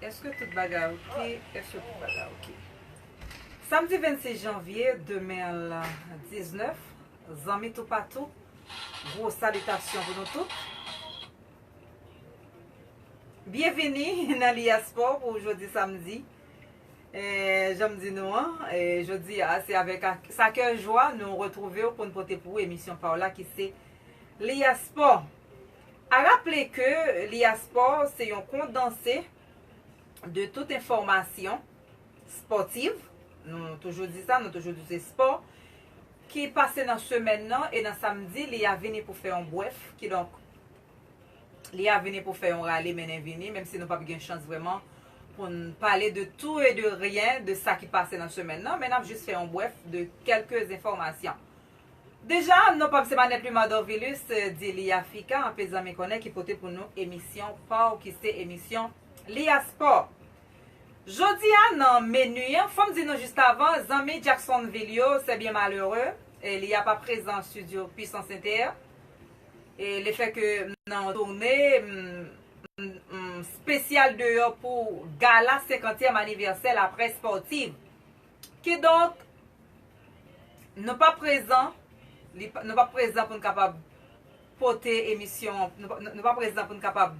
Eske tout bagay ok eske tout bagay ok Samdi 26 janvye 2019 zanmi toupatou gwo salitasyon pou nou tout Byenvini nan Liaspo pou jodi samdi janm di nou an jodi a se avèk sa kè jwa nou retwouvew poun pote pou ou emisyon paw la ki se Liaspo. A raple ke li a spò se yon kondanse de tout enfòmasyon spòtiv, nou toujou di sa, nou toujou di se spò, ki pase nan semèn nan e nan samdi li a vini pou fè yon brèf, kidonk li a vini pou fè yon rale mennen vini, menm si nou pap gen chans vrèman pou n pale de tou e de ryen de sa ki pase nan semèn nan, men n ap jis fè yon brèf de kèlke enfòmasyon. Deja non pam se manèt Luma Dorvilus di Lia Fica anpe zanmi konnen ki pote pou nou emisyon paw ki se emisyon Lia Sport. Jodi a nan menu an, fòm di nou just avan zanmi Jacksonville yo sè byen malere Lia pa prezan studio Puissance Inter e le fè ke m nan yon tourne m m spesyal deyò pou gala 50 tièm anivèsè la presse sportive Kidonk, nou pa prezan, nou pa prezan pou n kapab pote emisyon an, nou pa prezan pou n kapab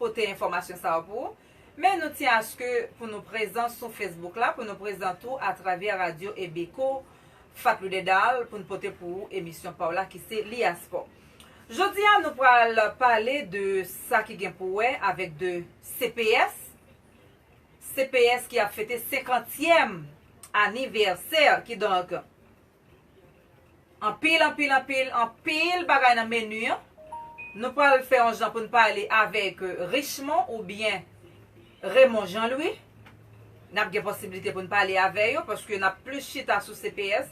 pote enfòmasyon sa yo pou ou, men nou tyen aske pou nou prezan sou Facebook la, pou nou prezan tou atravè radyo Ebeko Fatlou Dedal pou n pote pou ou emisyon pa w la ki se Li A Spò. Jodi a nou pral pale de sa ki gen pou wè avèk de CPS, CPS ki ap fete senkantyèm anivèsè kidonk anpil anpil anpil anpil bagay nan menu an nou pral fè yon jan pou n pale avèk Richemond oubyen Raymond Jean Louis n ap gen posiblite pou n pale avè yo paske n ap plis chita sou CPS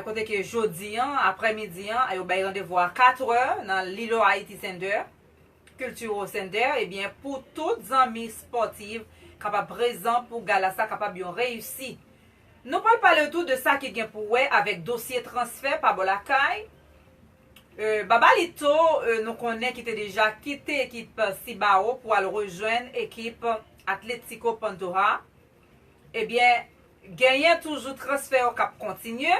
kote ke jodi an aprè midi an yo bay randevou a katrè nan Lilo Haiti Center. Cultural Center ebyen pou tout zanmi sportive kapab prezan pou gala sa kapab yon reyisi. Nou pral pale tou de sa ki gen pou wè avèk dosye transfè pa bò lakay, Babalito nou konnen ki te deja kite ekip Cibao pou al rejwenn ekip Atlético Pantoja ebyen genyen toujou transfè yo kap kontinye.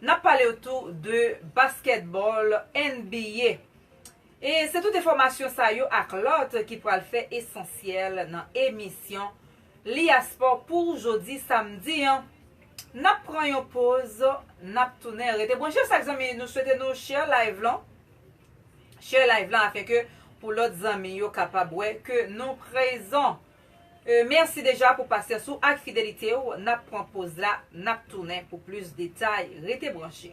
N ap pale w tou de baskètbòl NBA. E se tout enfòmasyon sa yo ak lòt ki pral fè esansyèl nan emisyon Li A Spò pou jodi samdi an. N ap pran yon poz, n ap tounen. Rete branche chak zanmi, nou swete nou share live lan. Share live lan afin ke pou lòt zanmi yo kapab wè ke nou prezan. Merci deja pou pasyans ou ak fidelite w nap pran poz la nap tounen pou plis detay rete branche.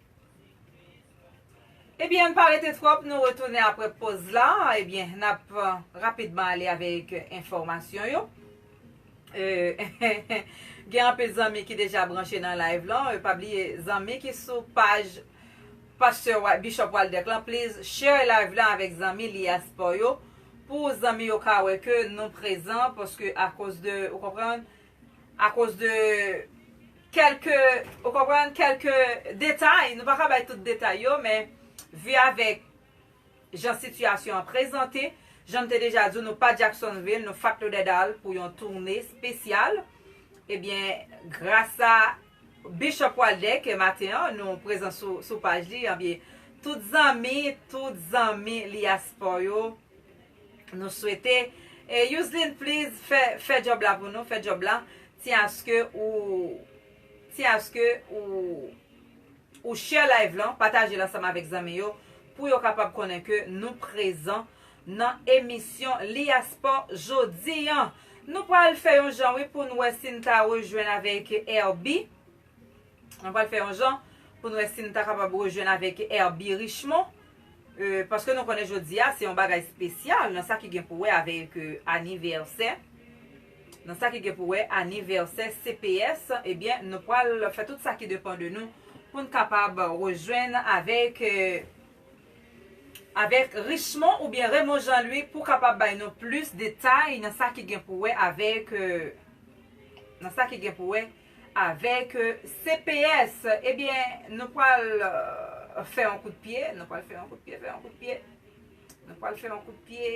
Ebyen ann pa rete twòp nou retounen aprè poz la ebyen nap rapidman ale avèk enfòmasyon yo gen anpil zanmi ki deja branche nan live lan pa bliye zanmi ki sou paj pastè Bishop Waldeck lan pliz share live lan avèk zanmi liyaspo yo pou zanmi yo ka wè ke nou prezan paske akoz de ou konprann A koz de kèlke, ou konprann, kèlke detay, nou pa ka bay tout detay yo, men vi avèk jan sitiyasyon an prezante, jan m te deja di w nou pa Jacksonville, nou Fat Lauderdale pou yon toune spesyal, ebyen grasa Bishop Waldeck ke maten an nou prezan sou paj li, ebyen tout zanmi, tout zanmi Liaspo yo, Nou swete e yousline please fè fè job la pou nou fè job la ti aske ou ti aske ou ou share live lan pataje l ansanm avèk zanmi yo pou yo kapab konnen ke nou prezan nan emisyon li a sport jodi an nou pral fè yon jan wi pou n wè si n ta rejwenn avèk Herby Mwen pral fè yon jan pou n wè si n ta kapab rejwenn avèk Herby Richemond, paske nou konnen jodi a se yon bagay spesyal nan sa ki gen pou wè avèk anivèsè, nan sa ki gen pou wè anivèsè CPS, ebyen nou pral fè tout sa ki depan de nou pou n kapab rejwenn avèk avèk Richemond oubyen Raymond Jean Louis pou kapab bay nou plis detay nan sa ki gen pou wè avèk nan sa ki gen pou wè. Avèk cps, ebyen nou pwal fè yon kout pye, nou pwal fè yon kout pye, fè yon kout pye, nou pwal fè yon kout pye,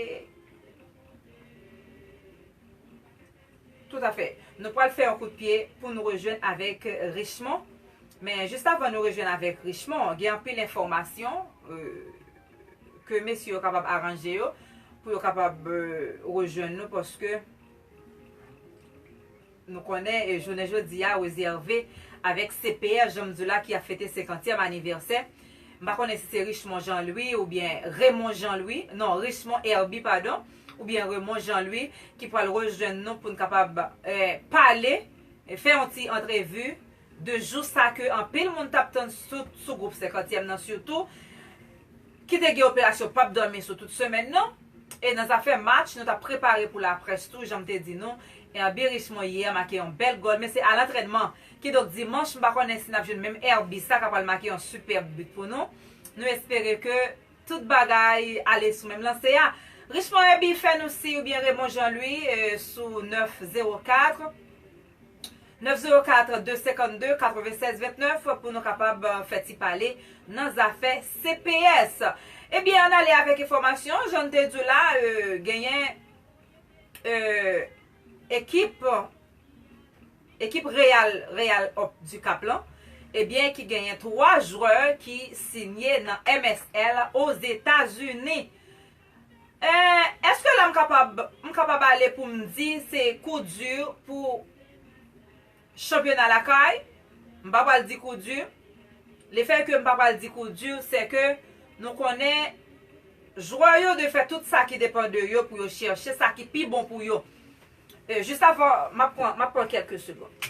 tout afè, nou pwal fè yon kout pye pou nou rejwenn avèk Richmond. Men jis avan nou rejwenn avèk Richmond, gen anpil enfòmasyon ke mesye yo kapab aranje yo pou yo kapab rejwenn nou paske. Nou konnen jounen jodi a rezève avèk CPR jan m di w la ki ap fete senkantyèm anivèsè. M pa konnen si se Richemond Jean Louis oubyen Remon Jean Louis, non Richemond Herby padon, oubyen Remon Jean Louis ki pral rejwenn nou pou n kapab pale, fè yon ti antrevi. 2 jou sa ke anpil moun tap tann sout sou gwoup senkantyèm nan sitou, ki te gen operasyon pap dòmi sou tout semèn nan, e nan zafè match nou tap prepare pou laprès tou janm te di nou, Herby Richemond yè make yon bèl gòl men se a lantrènman, kidonk dimanch m pa konnen si nap jwenn menm Herby sa ka pral make yon sipèb but pou nou, nou espere ke tout bagay ale sou menm lanse a. Richemond Herby fè nou siy oubyen Raymond Jean Louis sou 9 0 4. 904 252 96 29 pou nou kapab fè ti pale nan zafè CPS. Ebyen an ale avèk enfòmasyon, jan te di w la genyen ekip ekip Real Real Op du Cap lan ebyen ki genyen 3 jwè ki sinye nan MSL Ozetazini. Eh eske la m kapab m kapab ale pou m di se kou di pou chanpyona lakay? M pa pral di kou di. Le fè ke m pa pral di kou di se ke nou konnen jwè yo dwe fè tout sa ki depan de yo pou yo chèche sa ki pi bon pou yo. Eh jis avan m ap pran m ap pran kèlke segond.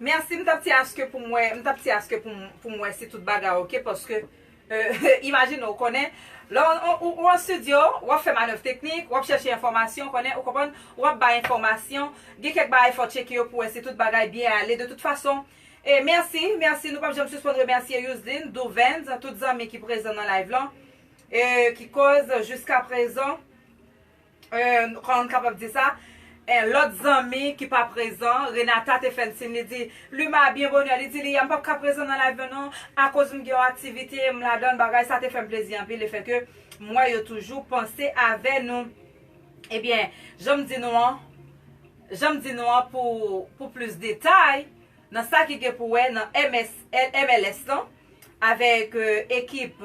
Merci m tap ti aske poum wè m tap ti aske poum wè si tout bagay ok paske imagine ou konnen lè ou an studio wap fè manèv teknik wap chèche enfòmasyon konnen ou konprann wap bay enfòmasyon gen kèk bagay fò tcheke yo pou wè si tout bagay byen ale de tout fason merci merci nou pap janm sispann remèsye Yousline Duvens tout zanmi ki prezan nan live lan ki koz jiskaprezan. N, kòman m kapab di sa? N, Lòt zanmi ki pa prezan, Renata te fè n siy, li di, Luma, byen bonè, li di li, a m pap ka prezan nan layv yo non, akoz m gen yon aktivite, m ladan l, bagay sa te fè m plezi anpil lefèke m wè yo toujou panse avè nou. Ebyen, jan m di nou an, jan m di nou an pou pou plis detay nan sa ki gen pou wè nan MS, MLS lan avèk ekip.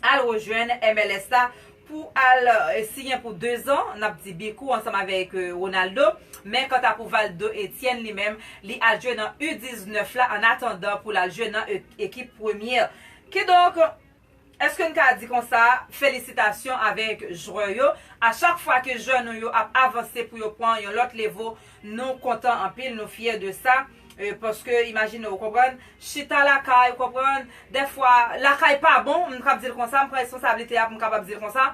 Al rejwenn MLS la pou al siyen pou 2 zan, n ap di Bicou ansanm avèk Ronaldo. Men kanta pou Valdo Etienne li menm, li al jwe nan U 19 la an atandan pou l al jwe nan ekip premye. Kidonk, èske n ka di konsa, felisitasyon avèk jwè yo. A chak fwa ke jwè nou yo ap avanse pou yo pran yon lòt levo, Nou kontan anpil nou fyè de sa paske imajine ou konprann chita lakay ou konprann dèfwa lakay pa bon m kab di l konsa m pran responsablite a pou m kapab di l konsa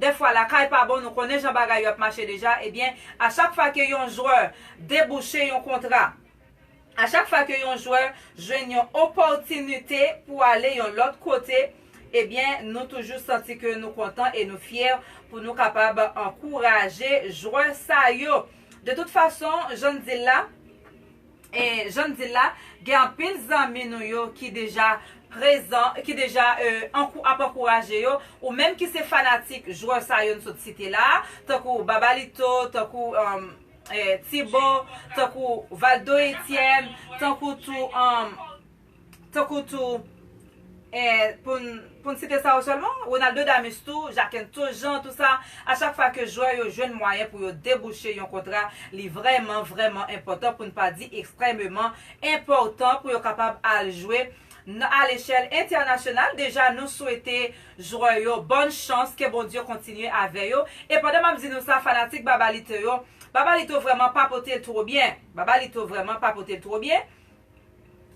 dèfwa lakay pa bon nou konnen jan bagay yo ap mache deja ebyen a chak fwa ke yon jwè debouche yon kontra a chak fwa ke yon jwè jwenn yon opòtinite pou ale yon lòt kote ebyen nou toujou santi ke nou kontan e nou fyè pou nou kapab ankouraje jwè sa yo. De tout fason, jan n di l la, jan n di l la, gen anpil zanmi nou yo ki deja prezan, ki deja ap ankouraje yo, ou menm ki se fanatik jwè sa yo n sot site la a, tankou Babalito, tankou Tibo, tankou Valdo Etyèn, tankou tou. tankou tou e pou n site sa yo sèlman, Ronaldo Damus tou, Jakentho Jean tou sa, a chak fwa ke jwè yo jwenn mwayen pou yo debouche yon kontra li vrèman vrèman enpòtan pou n pa di ekstrèmeman enpòtan pou yo kapab al jwe a lechèl entènasyonal, deja nou swete jwè yo bòn chans ke Bondye kontinye avè yo, e pandan m ap di nou sa fanatik Babalito yo, Babalito vrèman pa pote l two byen, Babalito vrèman pa pote l two byen.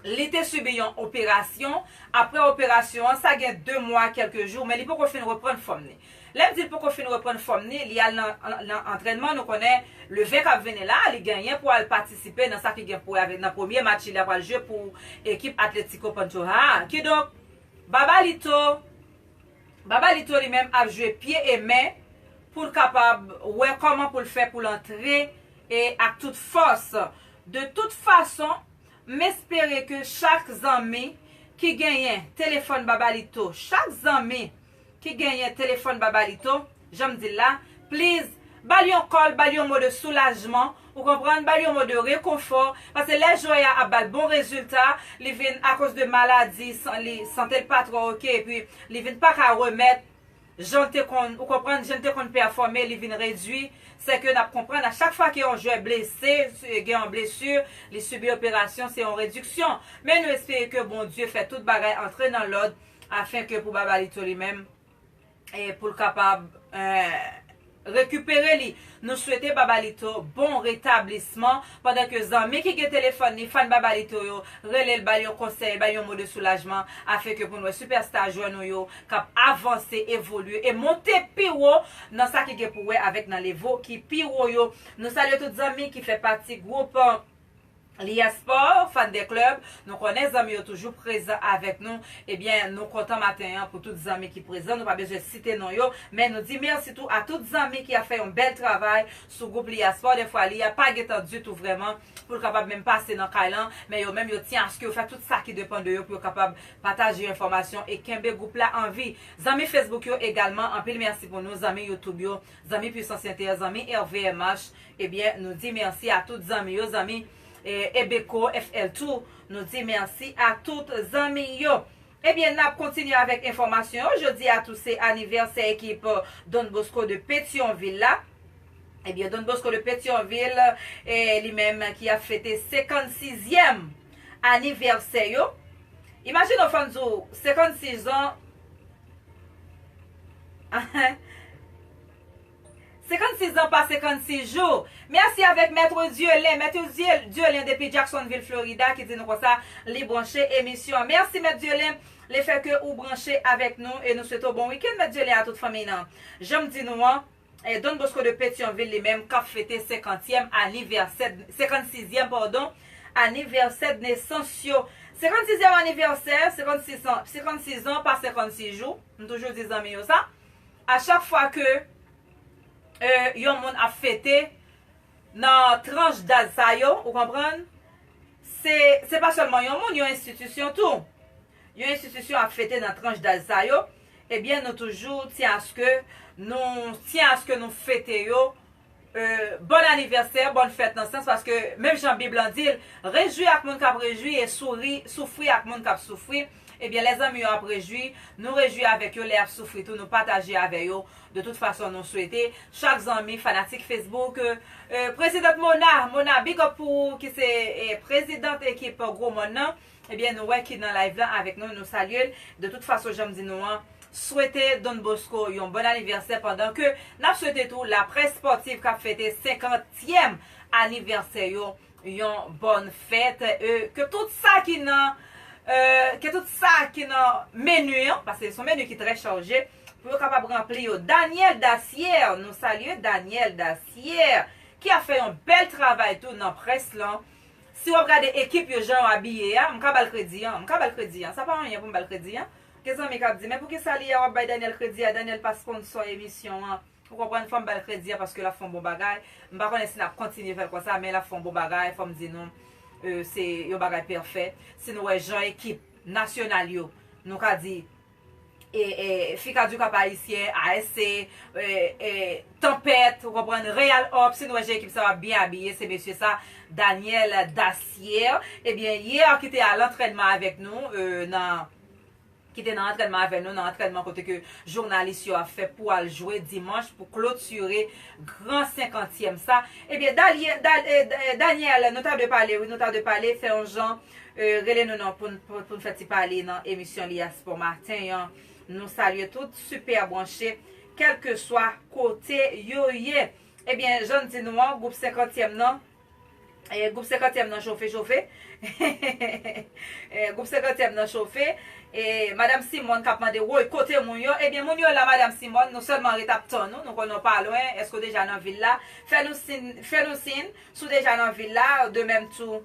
Li te sibi yon operasyon, aprè operasyon an sa gen 2 mwa a kèlke jou men li poko fin reprann fòm ni. Lè m di l poko fin reprann fòm ni, li al nan antrènman, nou konnen le 20 k ap vini la li genyen pou al patisipe nan sa ki gen pou wè avèk nan premye match li a pral jwe pou ekip Atlético Pantoja a. Kidonk Babalito, Babalito li menm ap jwe pye e men pou l kapab wè kòman pou l fè pou l antre ak tout fòs De tout fason, m espere ke chak zanmi ki genyen telefòn Babalito, chak zanmi ki genyen telefòn Babalito, jan m di l la, please, ba l yon kòl, ba l yon mo de soulajman, ou konprann, ba l yon mo de rekonfò, paske lè Joya ap ba l bon rezilta, li vin akoz de maladi, li, sante l pa twò ok, epi li vin pa ka remèt, Jan l te konn, ou konprann, jan l te konn pèfòme li vin redui, sè ke n ap konprann a chak fwa ke yon jwè blese, gen yon blesu, li sibi operasyon, se yon rediksyon. Men nou espere ke Bondye fè tout bagay antre nan lòd, afen ke pou Babalito li menm, pou l kapab, eh. rekipere li nou swete Babalito bon retablisman pandan ke zanmi ki gen telefòn li fan Babalito yo relel bal yon konsèy bal yon mo de soulajman afin ke poun wè sipèsta jwè nou yo kap avanse evolye e monte pi wo nan sa ki gen pou wè avèk nan levo ki pi wo yo nou salye tout zanmi ki fè pati gwoup. Lia Sport, Fan de Club, nou konnen zanmi yo toujou prezan avèk nou, ebyen nou kontan maten an pou tout zanmi ki prezan, nou pa bezwen site non yo, men nou di mèsi tou a tout zanmi ki ap fè yon bèl travay sou gwoup Lia Sport, dèfwa Lia pa gen tan ditou vrèman pou l kapab menm pase nan kay lan, men yo menm yo tyen aske yo fè tout sa ki depan de yo pou yo kapab pataje enfòmasyon e kenbe gwoup la an vi. Zanmi Facebook yo egalman, anpil mèsi pou nou, zanmi YouTube yo, zanmi Puissance Inter, zanmi RVMH, Ebyen nou di merci a tout zanmi yo zanmi Ebeco FL tou nou di merci a tout zanmi yo Ebyen nap kontinye avek enfomasyon yo jodi a tou se anivèsè ekip Don Bosco de Petyonvil la Ebyen Don Bosco de Petyonvil li menm ki ap fete 56 zyèm anivèsè yo Imajine ou fèm di w 56 ans ahh. 56 zan pa 56 jou. Merci avèk Maître Dieulen, Maitre Dieulen depi Jacksonville Florida ki di nou konsa li branche emisyon an. Merci Maitre Dieulen le fait ke ou branche avèk nou e nou swete w bon week-end Maitre Dieulen a tout fanmiy nan. Jan m di nou an, Don Bosco de Petion-Ville li menm kap fete 50 tièm anivèsè, 56 zièm pardon, anivèsè d'nesans yo. 56 zièm anivèsè, 56 ans, 56 ans pa 56 jou, m toujou di zanmi yo sa. A chak fwa ke yon moun ap fete nan tranch daj sa yo, ou konprann, se se pa sèlman yon moun, yon enstitisyon tou. Yon enstitisyon ap fete nan tranch daj sa yo, ebyen nou toujou tyen aske nou tyen aske nou fete yo Bòn anivèsè, bòn fèt nan sans paske menm jan bib lan dil, rejwi ak moun kap rejwi e souri, soufri ak moun kap soufri, ebyen lè zanmi yo ap rejwi, nou rejwi avèk yo, lè yap soufri tou nou pataje avè yo, de tout fason nou swete chak zanmi fanatik Facebook President Mona, Mona big up pou ou ki se President ekip Gwo Mòn nan. Ebyen nou wè ki nan live la avèk nou nou salye l de tout fason janm di nou an swete Don Bosco yon bòn anivèsè pandan ke nap swete tou laprès spòtiv kap fete 50 tièm anivèsè yo yon bòn fèt e ke tout sa ki nan ke tout sa ki nan menu an paske son menu ki trè charje pou yo kapab ranpli yo Daniel Dacier nou salye Daniel Dacier ki ap fè yon bèl travay tou nan près lan Si wap gade ekip yo jan yo abiye a m ka bal kredi an, m ka bal kredi an, sa pa anyen pou m bal kredi an, gen zanmi kap di men poukisa li a wap bay Daniel kredi a, Daniel pa sponsor emisyon an, ou konprann fòm bal kredi an paske lap fon bon bagay, m pa konnen si nap kontinye fèl konsa men lap fon bon bagay fòm di nou se yon bagay pèfè, si nou wè jan ekip nasyonal yo nou ka di. Ficadu Cap Haïtien, ASC, Tempête, ou konprann, Real Hope, si nou wè jan ekip sa yo ap byen abiye, se mesye sa, Daniel Dacier, ebyen, yè ki te a lantrènman avèk nou, nan, ki te nan antrènman avè nou, nan antrènman kote ke jounalis yo ap fè pou al jwe dimanch pou klotire gran senkantyèm sa, ebyen, Daniel, nou ta dwe pale wi, nou ta dwe pale, fè yon jan. Rele nou nan poun poun fè ti pale nan emisyon li a spò maten an nou salye tout super branche kelke swa kote yo ye ebyen jann di nou an group senkantyèm nan group senkantyèm nan chofe chofe hehehehe group senkantyèm nan chofe e madam simòn kap mande woy kote moun yo ebyen moun yo la madam simòn nou sèlman ret ap tann ou nou konnen ou pa lwen eske ou deja nan vil la fè nou sin fè nou sin si w deja nan vil la de mèm tou.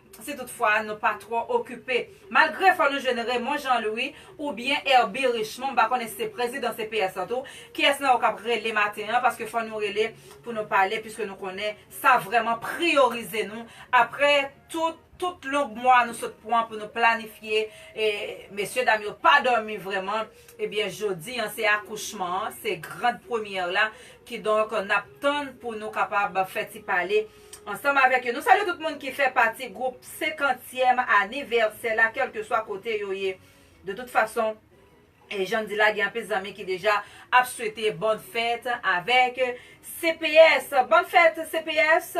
si tout fwa nou pa twò okipe. Malgre fò nou jwenn Raymond Jean Louis ou byen Herby Richemond m pa konnen si se prezidan CPS lan tou, kiyès nan yo k ap rele maten an paske fò nou rele pou nou pale piske nou konnen sa vrèman priyorize nou aprè tout tout long mwa nou sot pwan pou nou planifye e mesye dam yo pa dòmi vrèman e byen jodi an se akouchman an se grand première la kidonk n ap tann pou nou kapab fè ti pale. Ansanm avèk yo, nou salye tout moun ki fè pati gwoup senkantyèm anivèsè la, kèlkeswa kote yo ye. De tout fason, jan m di la, gen anpil zanmi ki deja ap swete bòn fèt avèk CPS. Bòn fèt CPS!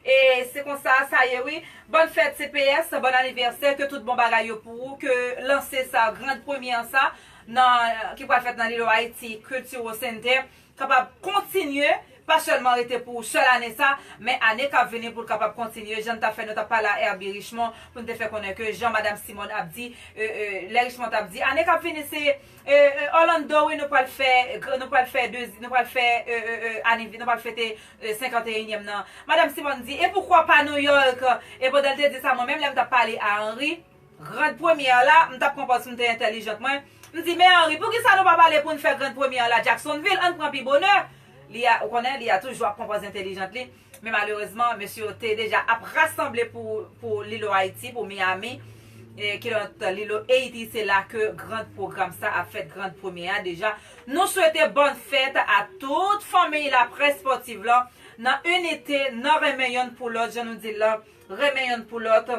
E se konsa sa ye wi. Bòn fèt CPS, bòn anivèsè, ke tout bon bagay yo pou ou, ke lanse sa, grand premyè sa, nan, ki pral fèt nan Lilo Ayiti Cultural Center, kapab kontinye, pa sèlman rete pou sèl ane sa, men ane kap vini pou l kapab kontinye, jan n ta fè nou ta pale a Herby Richemond pou n te fè konnen ke jan Madam Simone ap di, lè Richemond tap di ane kap vini se Orlando wi nou pral fè nou pral fè nou pral fè anivè nou pral fete 51 nyèm nan Madam Simone di e poukwa pa New York e pandan l te di sa mwen menm lè m tap pale a Henry Grand première la, m tap konpòt sim te entèlijant mwen, m di men Henri poukisa nou pa pale poun fè grand première la Jacksonville ann pran pi bonè, li a ou konnen li a toujou ap konpòt entèlijant li, men malerezman mesye yo te deja ap rasanble pou pou Lilo Ayiti pou Miami, kilòt Lilo Ayiti se la ke grand program sa ap fèt grand première a deja, nou swete bòn fèt a tout fanmiy laprès spòtiv lan nan inite nan renmen yonn pou lòt jan nou dil lan renmen yonn pou lòt.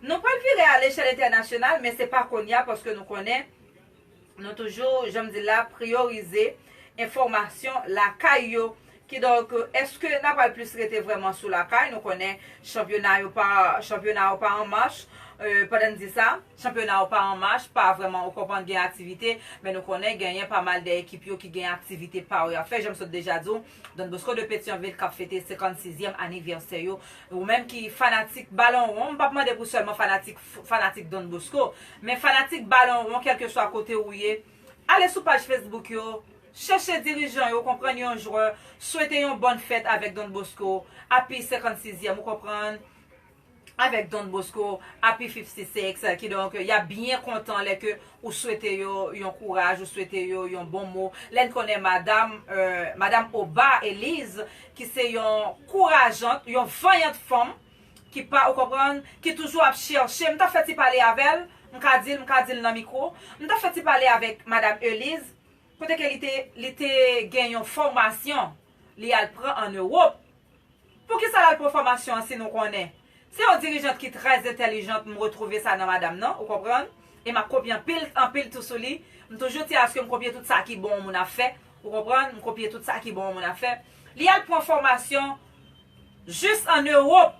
Nou pral vire a lechèl entènasyonal men se pa konnya paske nou konnen nou toujou jan m di l la priyorize enfòmasyon lakay yo kidonk èske n a pral plis rete vrèman sou lakay nou konnen chanpyona yo pa chanpyona yo pa an mach pandan n di sa chanpyona yo pa an mach pa vrèman ou konprann gen aktivite men nou konnen genyen pa mal de ekip yo ki gen aktivite pa yo y ap fè jan m sot deja di w. Don Bosco de Petyonvil kap fete 56 zyèm anivèsè yo. Ou menm ki fanatik balon won, m pap mande pou sèlman fanatik fanatik Don Bosco, men fanatik balon won kèlkeswa kote ou ye, ale sou paj Facebook yo, chèche dirijan yo, konprann yon jwè, swete yon bòn fèt avèk Don Bosco, api 56 zyèm ou konprann. avèk Don Bosco, Api 50 Six, kidonk y ap byen kontan lè ke ou swete yo yon kouraj, ou swete yo yon bon mo, lè n konnen madam, madam Oba Eliz, ki se yon kourajant, yon vanyant fanm, ki pa, ou konprann, ki toujou ap chèche, m t ap fè ti pale avè l, m ka di l, m ka di l nan mikwo, m t ap fè ti pale avèk madam Eliz, kote ke li te, li te gen yon fòmasyon li al pran an Ewop, Poukisa lal pran fòmasyon an si nou konnen? Se yon dirijant ki trè entèlijant m retwouve sa nan madam nan, ou konprann? E map kopye anpil, anpil tou sou li. M toujou ti aske m kopye tout sa ki bon yon moun ap fè, ou konprann? M kopye tout sa ki bon yon moun ap fè. Li al pran fòmasyon jis an Ewop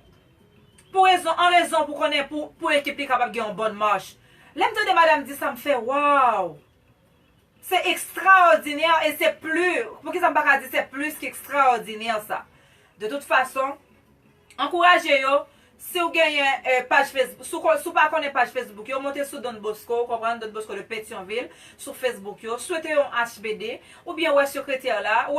pou rezon an rezon pou konnen pou ekip li kapab gen yon bòn mach. Lè m tande madam di sa m fè waw! Se ekstraòdinè e se pli, poukisa m pa ka di se plis ke ekstraòdinè sa. De tout fason, ankouraje yo, si w genyen paj Facebook, si w pa konnen paj Facebook yo, monte sou Don Bosco, ou konprann, Don Bosco de Petion-Ville, sou Facebook yo, swete yo yon HBD, oubyen wè sekretè la, wè.